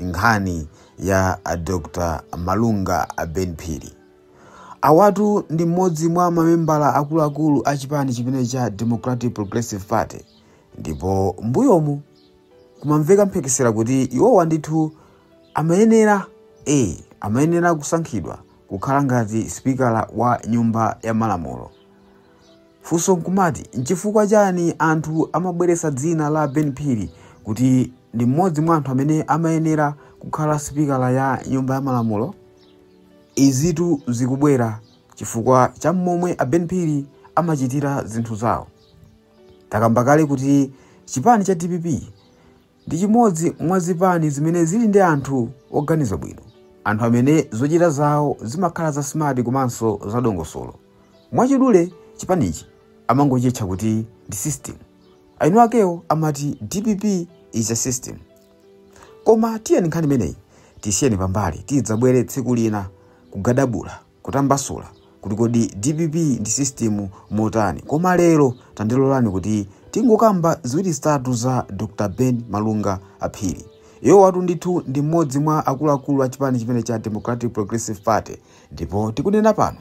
nkhani ya Dr Malunga Ben Phiri. Awatu ndi mmodzi mwa mamembala akuluakulu a chipani chimene cha Democratic Progressive Party ndipo mbuyomu kumamveka mphekesera kuti iwowa ndithu amayenera e amayenera kusankhidwa kukhala ngati spikala wa nyumba ya malamulo. Funso nkumati nchifukwa chani anthu amabweretsa dzina la Ben Phiri kuti ndi mmodzi mwa anthu amene amayenera kukhala sipikala ya nyumba ya malamulo? Izitu zikubwera chifukwa cha momwe a Ben Phiri amachitira zinthu zawo. Takamba kale kuti chipani cha dpp ndi chimodzi mwa zipani zimene zili ndi anthu oganiza bwino, anthu amene zochita zawo zimakhala za smart komanso za dongosolo. Mwachidule chipanichi amangochitcha kuti ndi system. Eni akewo amati dpp is a system. Koma tiyeni nkhani imeneyi tisiyeni pambali tidzabwere tsiku lina kugadabula. kutambasula kuti kodi dpp ndi system motani koma lero tandilolani kuti tingokamba ziwiri zitatu za dr ben malunga phiri awowatu ndithu ndi mmodzi mwa akuluakulu a chipani chimene cha democratic progressive party ndipo tikunena pano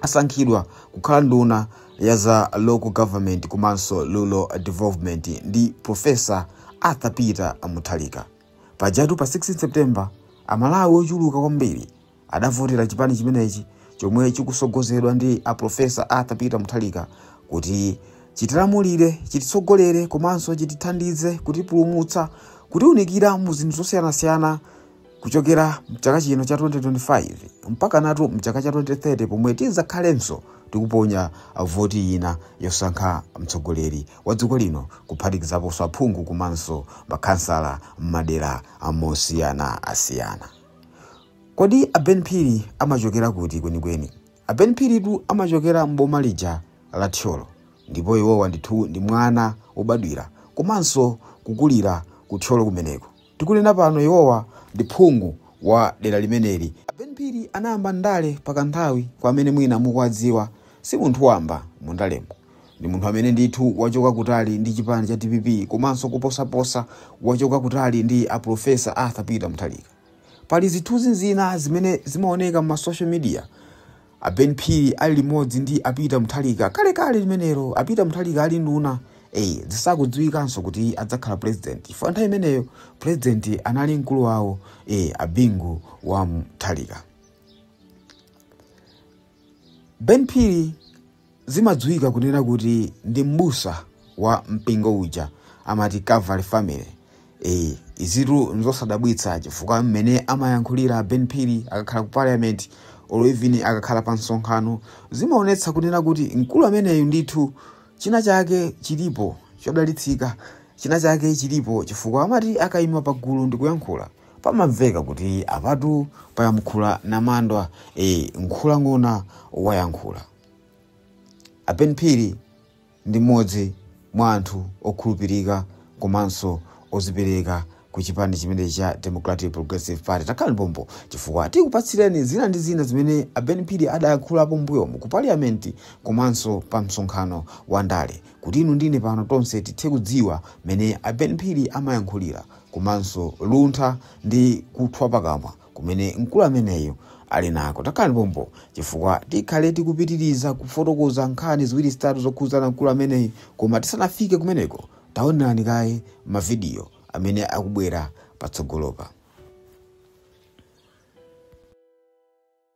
asankhidwa kukhala nduna ya za local government komanso rural development ndi profesa arthur peter mutharika pajatu pa 16 september amalawi ochuluka kwambiri adavotera chipani chimenechi chomwe chikutsogozedwa ndi a Profesa Arthur Peter Mutharika kuti chitilamulire chititsogolere komanso chitithandize kutipulumutsa kutiunikira mu zinthu zosiyanasiyana kuchokera mchaka chino cha 2025 mpakanatu mchaka cha 2030 pomwe tidzakhalenso tikuponya voti ina yosankha mtsogoleri wa dziko lino kuphatikizaponso aphungu komanso makhansala m'madera amosiyana asiyana Kodi a Ben Phiri amachokera kuti kwenikweni? A Ben Phiritu amachokera m'boma lija la Thyolo ndipo iwowa ndithu ndi mwana wobadwira komanso kukulira ku Thyolo kumeneko. Tikunena pano iwowa ndi phungu wa dera limeneli. A Ben Phiri anayamba ndale pa kanthawi, kwa amene mwina mukuwadziwa si munthu wamba mu ndalemo. Ndi munthu amene ndithu wachoka kutali ndi chipani cha dpp komanso koposaposa wachoka kutali ndi a Professor Arthur Peter Mutharika. Pali zithunzi zina zimene zimaoneka mma social media a Ben Phiri ali limodzi ndi a Peter Mutharika kalekale limenelo a Peter Mutharika ali nduna eh zisakudziwikanso kuti adzakhala president chifukwa nthawi imeneyo president anali mkulu wawo eh a Bingu wa Mutharika. Ben Phiri Zimadziwika kunena kuti ndi m'busa wa mpingo uja amati Calvary Family. Eee, izitu nzosadabwitsa chifukwa mmene amayankhulira a Ben Phiri akakhala ku parliament or even akakhala pa msonkhano zimaonetsa kunena kuti mkulu ameneyu ndithu china chake chilipo chodalitsika, china chake chilipo chifukwa amati akaima pa gulu ndikuyankhula pamamveka kuti apatu payankhula namandwa. Eee, nkhulang'ona wayankhula. A Ben Phiri ndi mmodzi mwa anthu okhulupirika komanso ozipereka ku chipani chimenechi cha Democratic Progressive Party. Takhala nipompo chifukwa tikupatsireni zina ndi zina zimene a Ben Phiri adayankhulapo mbuyomu ku paliyamenti komanso pa msonkhano wa ndale kuti inu ndine pano tonse tithe kudziwa mmene a Ben Phiri amayankhulira komanso luntha ndi kuthwa pakamwa kumene mkulu ameneyu ali nako takhalani pompo chifukwa tikhale tikupitiriza kufotokoza nkhani ziwiri zitatu zokhudzana mkulu ameneyu koma tisanafike kumeneko taonerani kaye mavidiyo amene akubwera patsogolopa